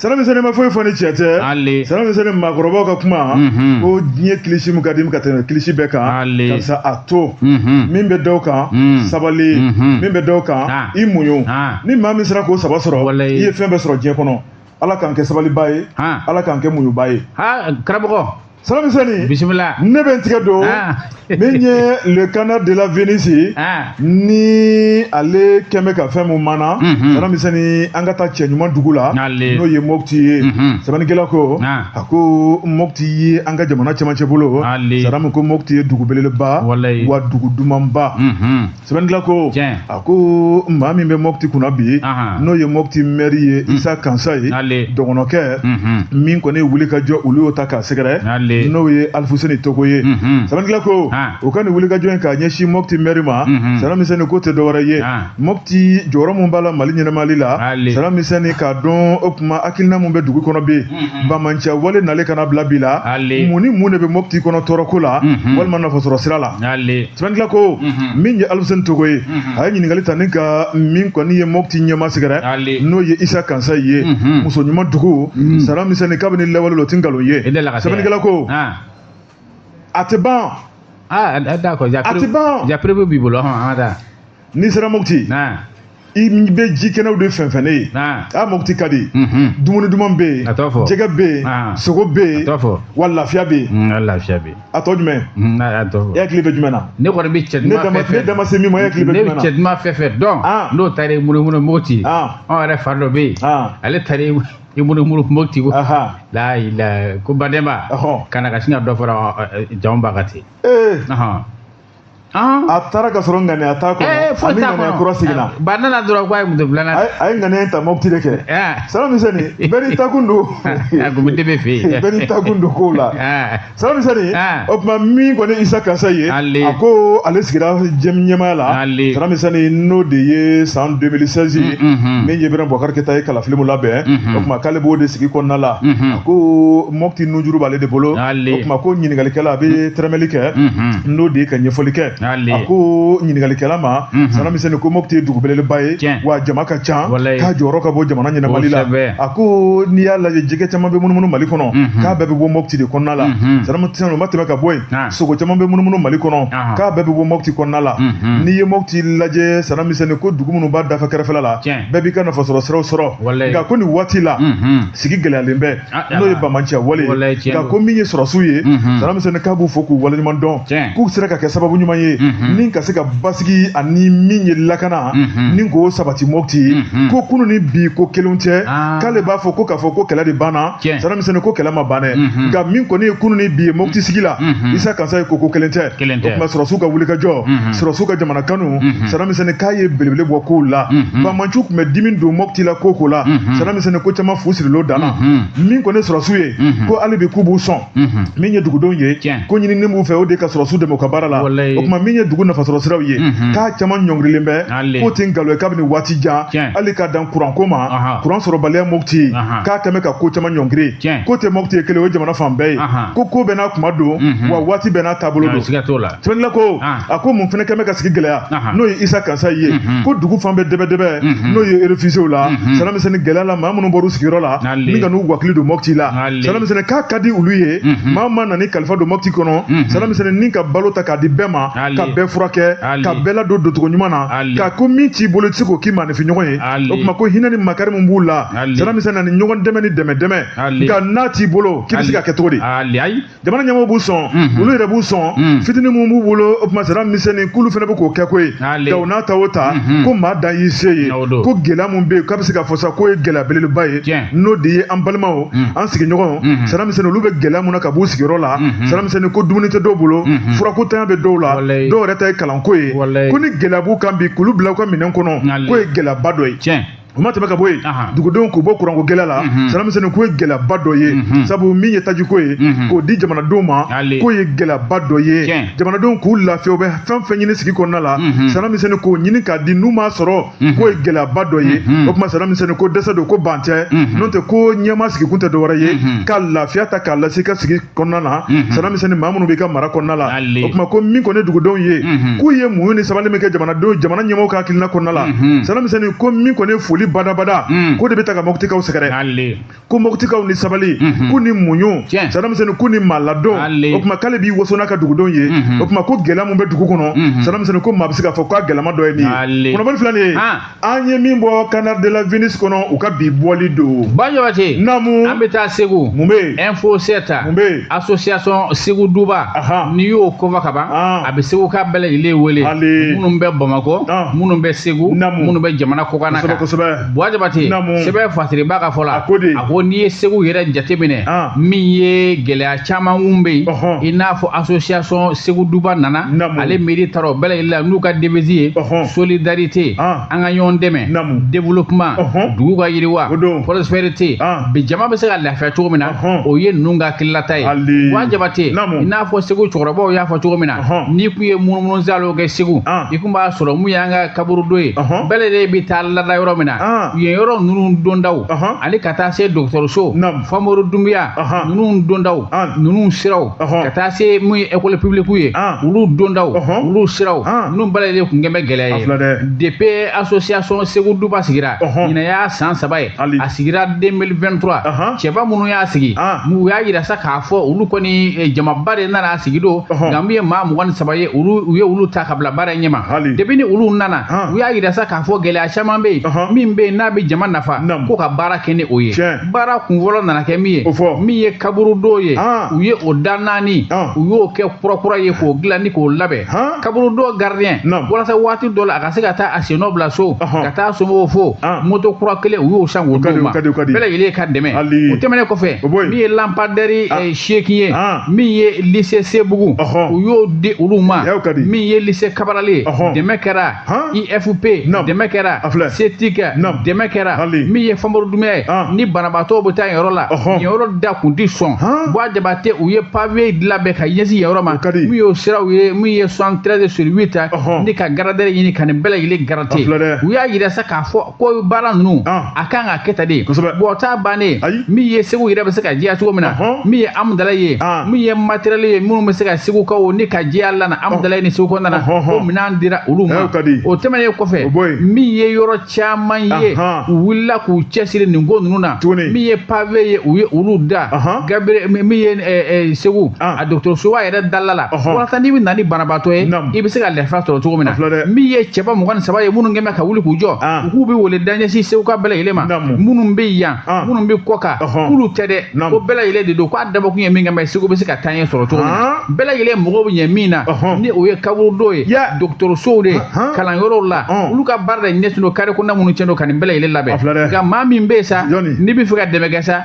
Sara misɛnni ma foyi fɔ ni tiɲɛ tɛ sara misɛnni maakɔrɔbaw ka kuma ko diɲɛ kilisi min ka di ka tɛmɛ kilisi bɛɛ kan karisa a to min bɛ dɔw kan sabali min bɛ dɔw kan i muɲu ni maa min sera k'o saba sɔrɔ i ye fɛn bɛɛ sɔrɔ diɲɛ kɔnɔ ala k'an kɛ sabaliba ye ala k'an kɛ muɲuba ye karamɔgɔ Sara misɛnni bisimila ne bɛ n tigɛ don ah. min ye le canard de la Venise ye ah. ni ale kɛn bɛ ka fɛn min mana mhm. Sara misɛnni an ka taa cɛ ɲuman dugu la n'o ye Mopti ye mhm. sɛbɛnnikɛla ko ah. a ko Mopti ye an ka jamana cɛmancɛ bolo Saramu ko Mopti ye dugu belebeleba wa dugu dumanba. Mhm. sɛbɛnnikɛla ko Tiɲɛ. a ko maa min bɛ mɔpti kunna bi Ahan. n'o ye mɔpti mɛri ye isa kansaye Ale. dɔgɔnɔkɛ Mhm. min kɔni wuli ka jɔ olu y'o ta k'a sɛgɛrɛ Ale. n'o ye alifuseni togo ye Mhm. sɛbɛnnikɛla ko Ah. o ka nin wuli ka jɔ in k'a ɲɛsin mɔpti mɛri ma Mhm. sara misɛnni ko tɛ dɔwɛrɛ ye Ah. mɔpti jɔyɔrɔ min b'a la mali ɲɛnamali la Ale. sara misɛnni k'a dɔn o tuma hakilina min bɛ dugu kɔnɔ bi Mhm. bamancɛ wale nale ka na bila bi la mun ni mun de bɛ mɔpti kɔnɔ tɔɔrɔko la mhm. walima nafasɔrɔ sira la sɛbɛnnikɛla ko mhm. min ye alifuseni togo ye a ye ɲininkali ta ni ka min kɔni ye mɔpti ɲɛmaa sɛgɛrɛ n'o ye isa kansaye muso ɲuman dugu sara misɛnni kabini lawale la o ti nkalon ye sɛbɛnnikɛla ko a tɛ ban a tɛ ban b'i bolo n'i sera mopti i bɛ ji kɛnɛw de fɛnsɛnnen ye a mopti ka di dumuni duman bɛ yen jɛgɛ bɛ yen sogo bɛ yen wa lafiya bɛ yen lafiya bɛ a tɔ jumɛn e hakili bɛ jumɛn na ne kɔni bɛ cɛ ne dama se min ma e hakili bɛ jumɛn na cɛ duman fɛn fɛn dɔn n'o taara i munumunu mopti anw yɛrɛ fa dɔ bɛ yen ale taara i munumunu mopti ko ko badenma ka na ka sin ka dɔ fara jama ba kan ten Ah. a taara ka sɔrɔ ŋaniya t'a kɔnɔ eh, a ni ŋaniya kura seginna eh, ba nana dɔrɔn ko a ye muso filanan a ye ŋaniya ta mɔpiti de kɛ eh. sara misɛnni bɛɛ n'i takun don a kun tɛ bɛ fɛ yen bɛɛ n'i takun don kow la sara misɛnni o tuma min kɔni isa kansaye a ko ale sigira ɲɛmaaya la sara misɛnni n'o de ye san 2016 ye mm, mm, mm. min ye ibrahim bubakari keyita ye kalafili min labɛn o tuma k'ale b'o de sigi kɔnɔna la a ko mɔti nujuru b'ale de bolo o tuma ko ɲininkalikɛla a bɛ tɛrɛmɛli kɛ n'o de ye ka ɲɛfɔli kɛ a ko ɲininkalikɛla ma sanamisɛnni ko mɔti ye dugu belebeleba ye wa jama ka ca k'a jɔyɔrɔ ka bon jamana ɲɛnamali la a ko n'i y'a lajɛ jɛgɛ caman bɛ munumunu mali kɔnɔ k'a bɛɛ bɛ bɔ mɔti de kɔnɔna la sana o ma tɛmɛ ka bɔ yen sogo caman bɛ munumunu mali kɔnɔ k'a bɛɛ bɛ bɔ mɔti kɔnɔna la n'i ye mɔti lajɛ sanamisɛnni ko dugu minnu b'a dafa kɛrɛfɛla la bɛɛ b'i ka nafasɔrɔ siraw sɔrɔ nka ko nin waati la sigi gɛlɛyalen bɛ ah, n'o ye bamanciya wale ye nka ko min ye sɔrɔsiw ye mhm. sanamisɛnni k'a b'u fo k'u waleɲuman dɔn k'u sera ka kɛ sababu ɲuman ye mhm. ni ka se ka basigi ani min ye lakana mhm. ni k'o sabati mɔti ko kunu ni bi ko kelen tɛ ah. k'ale b'a fɔ ko k'a fɔ ko kɛlɛ de banna sanamisɛnni ko kɛlɛ ma ban dɛ nka min kɔni ye kunu ni bi ye mɔti sigi la isa kansaye ko ko kelen tɛ o tuma sɔrɔsiw ka wulikajɔ sɔrɔsiw ka jamana kanu sanamisɛnni k'a ye belebele bɔ kow la bamanciw tun bɛ dimi don mɔti la ko ko la sɛnni ko caman fu sirilo danna min kɔni sɔrɔsiw ye ko hali bi k'u b'u sɔn min ye dugudenw ye ko ɲinini b'u fɛ o de ye ka sɔrɔsiw dɛmɛ u ka baara la o tuma min ye dugu nafasɔrɔ siraw ye k'a caman ɲɔngirilen bɛ k'o tɛ nkalon ye kabini waati jan hali ka dan kuranko ma kuran sɔrɔbaliya mopti k'a kɛmɛ ka ko caman ɲɔngiri k'o tɛ mopti ye kelen ye jamana fan bɛɛ ye ko ko bɛɛ n'a kuma don wa waati bɛɛ n'a taabolo don sɛbɛnla ko a ko mun fana kɛmɛ ka sigi gɛlɛya n'o ye isa kansaye ye mhm. ko dugu fan bɛɛ dɛbɛdɛbɛ mhm. n'o ye refugiew la mhm. sanamisɛnni gɛlɛya la maa minnu bɔra u sigiyɔrɔ la ni ka n'u wakili don mɔpti la sanamisɛnni k'a ka di olu ye maa ma na n'i kalifa don mɔpti kɔnɔ sanamisɛnni ni ka balo ta k'a di bɛɛ ma ka bɛɛ furakɛ ka bɛɛ ladon doncogo ɲuman na nka ko min t'i bolo i tɛ se k'o k'i maanifin ɲɔgɔn ye o tuma ko hinɛ ni makari min b'u la sanamisɛnni ani ɲɔgɔn dɛmɛ ni dɛmɛ dɛmɛ nka n'a t'i bolo k'i bɛ se ka kɛ cogo di jamana ɲɛmɔgɔw b'u sɔn mhm. olu yɛrɛ b'u sɔn mhm. fitini mun b'u bolo o tuma sanamisɛnnin k'olu fana bɛ k'o kɛ koyi nka u n'a ta o ta mhm. ko maa dan y'i se ye ko gɛlɛya mun bɛ yen k'a bɛ se ka fɔ sa k'o ye gɛlɛya belebeleba ye n'o de ye an balimaw an sigiɲɔgɔnw sanamisɛnnin olu bɛ gɛlɛya mun na ka b'u sigiyɔrɔ la sanamisɛnnin ko dumuni tɛ dɔw bolo furako ntanya bɛ dɔw la dɔw yɛrɛ ta ye kalanko ye ko ni gɛlɛya b'u kan bi k'olu bila u ka minɛn kɔnɔ k'o ye gɛlɛyaba dɔ ye o ma tɛmɛ ka bɔ yen dugudenw k'u bɔ kuranko gɛlɛya la mhm. sanamisɛnnin k'o ye gɛlɛyaba dɔ ye mhm. sabu min ye tajiko ye mhm. k'o di jamanadenw ma k'o ye gɛlɛyaba dɔ ye jamanadenw k'u lafiya u bɛ fɛn fɛn ɲini sigi kɔnɔna la sanamisɛnnin k'o ɲini k'a di n'u m'a sɔrɔ k'o ye gɛlɛyaba dɔ ye o tuma sanamisɛnnin ko dɛsɛ don ko ban tɛ n'o tɛ ko ɲɛmaa sigikun tɛ dɔwɛrɛ ye ka lafiya ta k'a lase i ka sigi kɔnɔna na sanamisɛnnin maa minnu b'i ka mara kɔnɔna la Alile. O tuma ko min kɔni ye dugudenw ye. Unhun. K'u ye muɲu ni sabali min kɛ jamana ɲɛmɔgɔw ka hakilina kɔnɔna la. Unhun. Sanamisɛnnin ko min kɔni ye foli badabada. Un. K'o de bɛ taa ka Moptikaw sɛgɛrɛ. Alile. Ko Moptikaw ni sabali. Unhun. K'u ni muɲu. Tiɲɛ. Sanamisɛnnin k'u ni maaladon. Alile. O tuma k'ale b'i waso n'a ka dugudenw ye. Unhun. O tuma ko gɛlɛya min bɛ dugu kɔnɔ. Unhun. Sanamisɛnnin ko maa bɛ se k'a fɔ k'a gɛlɛma dɔ ye min ye. Alile. Kunnafoni filɛ nin ye. Han. an ye min bɔ canard de la venise kɔnɔ u ka bi bɔli don bajabate namu an bɛ taa segu mun bɛ yen info sept mun bɛ yen association segu duba n'i y'o kofɔ ka ban a bɛ segu ka bɛɛ lajɛlen wele minnu bɛ bamakɔ minnu bɛ segu minnu bɛ jamana kɔkanna kan kosɛbɛ bajabate sɛbɛn fasiriba ka fɔ la a ko n'i ye segu yɛrɛ jateminɛ min ye gɛlɛya caman minnu bɛ yen Ɔhɔn. i n'a fɔ association segu duba nana Naamu. ale miiri taara o bɛɛ lajɛlen la n'u ka devise ye Ɔhɔn. solidarité Ah. an ka ɲɔgɔn dɛmɛ Naamu. développement Ɔhɔn. dugu ka yiriwa O don. prospérité Ah. bi jama bɛ se ka lafiya cogo min na Ɔhɔn. o ye ninnu ka hakililata ye Hali. bajabate Naamu. i n'a fɔ segu cɛkɔrɔbaw y'a fɔ cogo min na Ɔhɔn. n'i kun ye munumunu saalo kɛ segu Ah. i kun b'a sɔrɔ mun y'an ka kaburudo ye Ɔhɔn. bɛɛ lajɛlen bɛ taa lada yɔrɔ min na Ah. yen yɔrɔ ninnu dondaw Ɔhɔn. ani ka taa se dɔgɔtɔrɔso Naamu. famori dumbuya Ɔhɔn. ninnu dondaw Ɔn. ninnu siraw Ɔhɔn. ka taa se mun ye école publique ye Ɔn. olu dondaw Ɔhɔn. olu siraw Ɔn. ninnu bɛɛ lajɛlen kun kɛn bɛ gɛlɛya ye A filɛ dɛ. depuis association segu duba sigira Ɔhɔn. ɲinɛ y'a san saba ye Hali. a sigira 2023 Ɔhɔn. cɛba minnu y'a sigi Ɔn. n'u y'a yira sa k'a fɔ olu kɔni eh, jamaba de nana a sigi don Ɔhɔn. nka min ye maa mugan ni saba ye olu u ye olu ta ka bila baara in ɲɛma Hali. depuis ni olu nana Ɔn. u y'a yira sa k'a fɔ gɛlɛya caman bɛ yen Ɔhɔn. min bɛ yen n'a bɛ jama nafa Naamu. ko ka baara kɛ ni o ye Tiɲɛ. baara kun fɔlɔ nana kɛ min ye o fɔ min ye kaburudo ye ah. u ye o da naani ah. u y'o kɛ kurakura ye k'o dilan ni k'o labɛn ah. kaburudo gardien walasa waati dɔ la a ka se ka taa a sennɔ bila so ka taa somɔgɔw fo moto kura kelen u y'o san k'o d'u ma bɛɛ lajɛlen ka dɛmɛ o tɛmɛnen kɔfɛ min ye lampadaire eh, seegin ye min ye lycée sebugu u y'o di olu ma min ye lycée cabral ye dɛmɛ kɛra Han? IFP Naam. dɛmɛ kɛra A filɛ. CTK Naam. dɛmɛ kɛra Hali. min ye Famori Dumbuya ye An. ni banabaatɔw bɛ taa yen yɔrɔ la Ɔhɔn. yen yɔrɔ da kun tɛ sɔn Han. Bajabate u ye pave labɛn ka ɲɛsin yen yɔrɔ ma O ka di. min y'o siraw ye min ye 73 sur 8 ta Ɔhɔn. ni ka grader ɲini ka nin bɛɛ lajɛlen A filɛ gratter dɛ. u y'a yira sa k'a fɔ ko baara ninnu ah. a kan ka kɛ tan de bon t'a bannen min ye segu yɛrɛ bɛ se ka jɛya cogo min na min ye amudalayi ye ah. min ye matériel ye minnu bɛ se ka segukaw ni ka jɛya lana ah. amudalayi ni segu kɔnɔna na ko minɛn dira olu ma o tɛmɛnen kɔfɛ min ye yɔrɔ caman ye u wulila k'u cɛsiri nin ko ninnu na min ye pave ye u ye olu da gabere min ye eh, eh, segu a dɔgɔtɔrɔsoba yɛrɛ dala la Ɔhɔn. walasa n'i bɛ na ni banabaatɔ ye Naam. i bɛ se ka lafiya sɔrɔ cogo min na A filɛ dɛ. min ye cɛba mugan ni saba ye minnu kɛn bɛ ka wuli k'u jɔ Ah. u k'u bɛ wele da ɲɛsin segu ka bɛɛ lajɛlen ma Naam. minnu bɛ yan Ah. minnu bɛ kɔkan Ɔhɔn. k'olu tɛ dɛ Naam. ko bɛɛ lajɛlen de don k'a dabɔkun ye min kama ye segu bɛ se ka taa ɲɛ sɔrɔ cogo min na Ah. bɛɛ lajɛlen mago bɛ ɲɛ min na Ɔhɔn. ni o ye kaburudo ye Ya. dɔgɔtɔrɔsow de ye Ahan. kalanyɔrɔw la Ɔn. olu ka baara de ɲɛsin don carré kɔnɔna minnu cɛn don ka nin bɛɛ lajɛlen labɛn A filɛ dɛ. nka maa min bɛ yen sa Jɔni? n'i bɛ fɛ ka dɛmɛ kɛ sa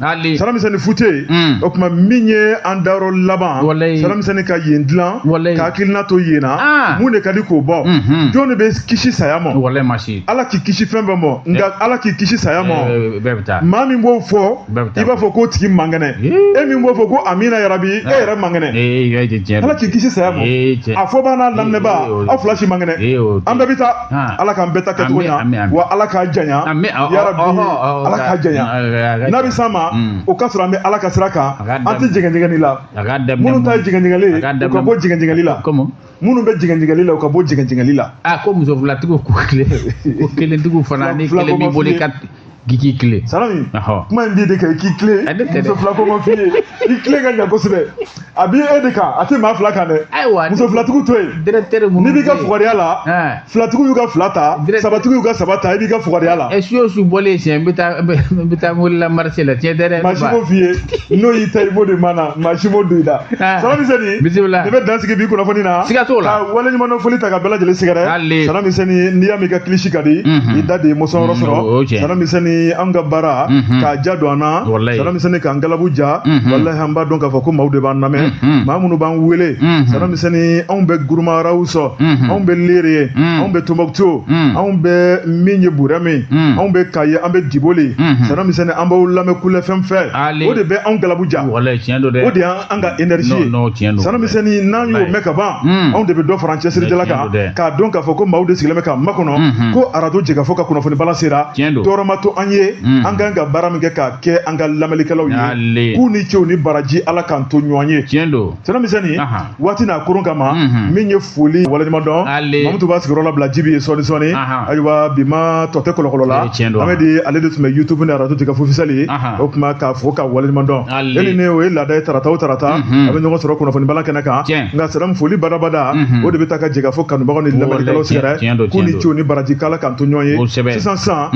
Hali salami sɛni fu tɛ yen mm. o tuma min ye an dayɔrɔ laban salami sɛni ka yen dilan ka hakilina to yen na ah. mun de ka di k'o bɔ mm-hmm. jɔn de bɛ kisi saya ma ala k'i kisi fɛn bɛɛ ma eh. nka ala k'i kisi saya ma eh, eh, maa min b'o fɔ i b'a fɔ k'o tigi man kɛnɛ e min b'o fɔ ko amina yarabi e yɛrɛ man kɛnɛ ala k'i kisi saya ma a fɔbaa n'a laminɛbaa aw fila si man kɛnɛ an bɛɛ bɛ taa Ah. ala k'an bɛɛ ta kɛcogo ɲa wa ala k'a janya yarabi ala k'a janya n'a bɛ s'an ma mm. o ka sɔrɔ an bɛ ala ka sira kan an tɛ jɛgɛnjɛgɛni la minnu ta ye jɛgɛnjɛgɛli ye u ka bɔ jɛgɛnjɛgɛli la minnu bɛ jɛgɛnjɛgɛli la u ka bɔ jɛgɛnjɛgɛli la a ah, ko muso filatigiw ko kelen ko kelentigiw fana ni kelen b'i bolo i ka k'i k'i tilen salami kuma in b'i de kan i k'i tilen muso fila ko ma f'i ye i tilen ka ɲa kosɛbɛ a b'i e de kan a tɛ maa fila kan dɛ muso filatigiw to yen n'i b'i ka fugariya la filatigiw y'u ka fila ta sabatigiw y'u ka saba ta i b'i ka fugariya la ɛ su o su bɔlen siɲɛ n bɛ taa n bɛ taa mobili la marché la tiɲɛ tɛ dɛ maa si m'o f'i ye n'o y'i ta i b'o de mana maa si m'o don i da salami sɛni bisimila ne bɛ dan sigi bi kunnafoni na siga t'o la ka waleɲumandɔn foli ta ka bɛɛ lajɛlen sɛgɛrɛ Hali. salami sɛni n'i y'a mɛn i ka kilisi ka di Mhm. i da de ye mɔsɔn yɔrɔ Mm, o- o sɔrɔ tiɲɛ. salami sɛni an ka baara Mhm. k'a ja don an na Walayi. salami sɛni k'an galabu ja Mhm. walahi an b'a dɔn k'a fɔ ko maaw de b'an lamɛn Mhm. maa minnu b'an wele Mhm. salami sɛni anw bɛ gourma rharous Mhm. anw bɛ léré Mhm. anw bɛ tombouctou Mhm. anw bɛ min ye bourem Mhm. anw bɛ kayes an bɛ diboli Mhm. salami sɛni an b'aw lamɛn kulɛfɛn fɛ Hali. o de bɛ anw galabu ja walayi tiɲɛ don dɛ o de y'an an ka energie ye salami sɛni n'an y'o mɛn ka ban hmm. anw de bɛ dɔ fara an cɛsirijala kan k'a dɔn k'a fɔ ko maaw de sigilen bɛ k'a makɔnɔ hmm, hmm. ko arajo jɛkafɔ ka kunnafoni bala sera tɔɔrɔ ma to an ye an kan ka baara min kɛ k'a kɛ an ka lamɛnlikɛlaw ye k'u ni ce u ni baraji ala k'an to ɲɔgɔn ye salami sɛni waati n'a koron kama min ye foli waleɲuman dɔn mamutu b'a sigiyɔrɔ labila jibi ye sɔɔni sɔɔni ayiwa bi ma tɔ tɛ kɔlɔkɔlɔ la an bɛ di ale de tun bɛ youtube ni arajo jɛkafɔ officiel o kuma k'a fo k'a waleɲuman dɔn e ni ne o ye laada ye tarata o tarata an bɛ ɲɔgɔn sɔrɔ kunnafoni bala kɛnɛ kan nka salamu foli badabada o de bɛ taa ka jɛkafɔ kanubagaw ni lamɛnnikɛlaw sɛgɛrɛ k'u ni ce u ni baraji k'ala k'an to ɲɔgɔn ye sisan sisan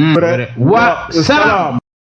wa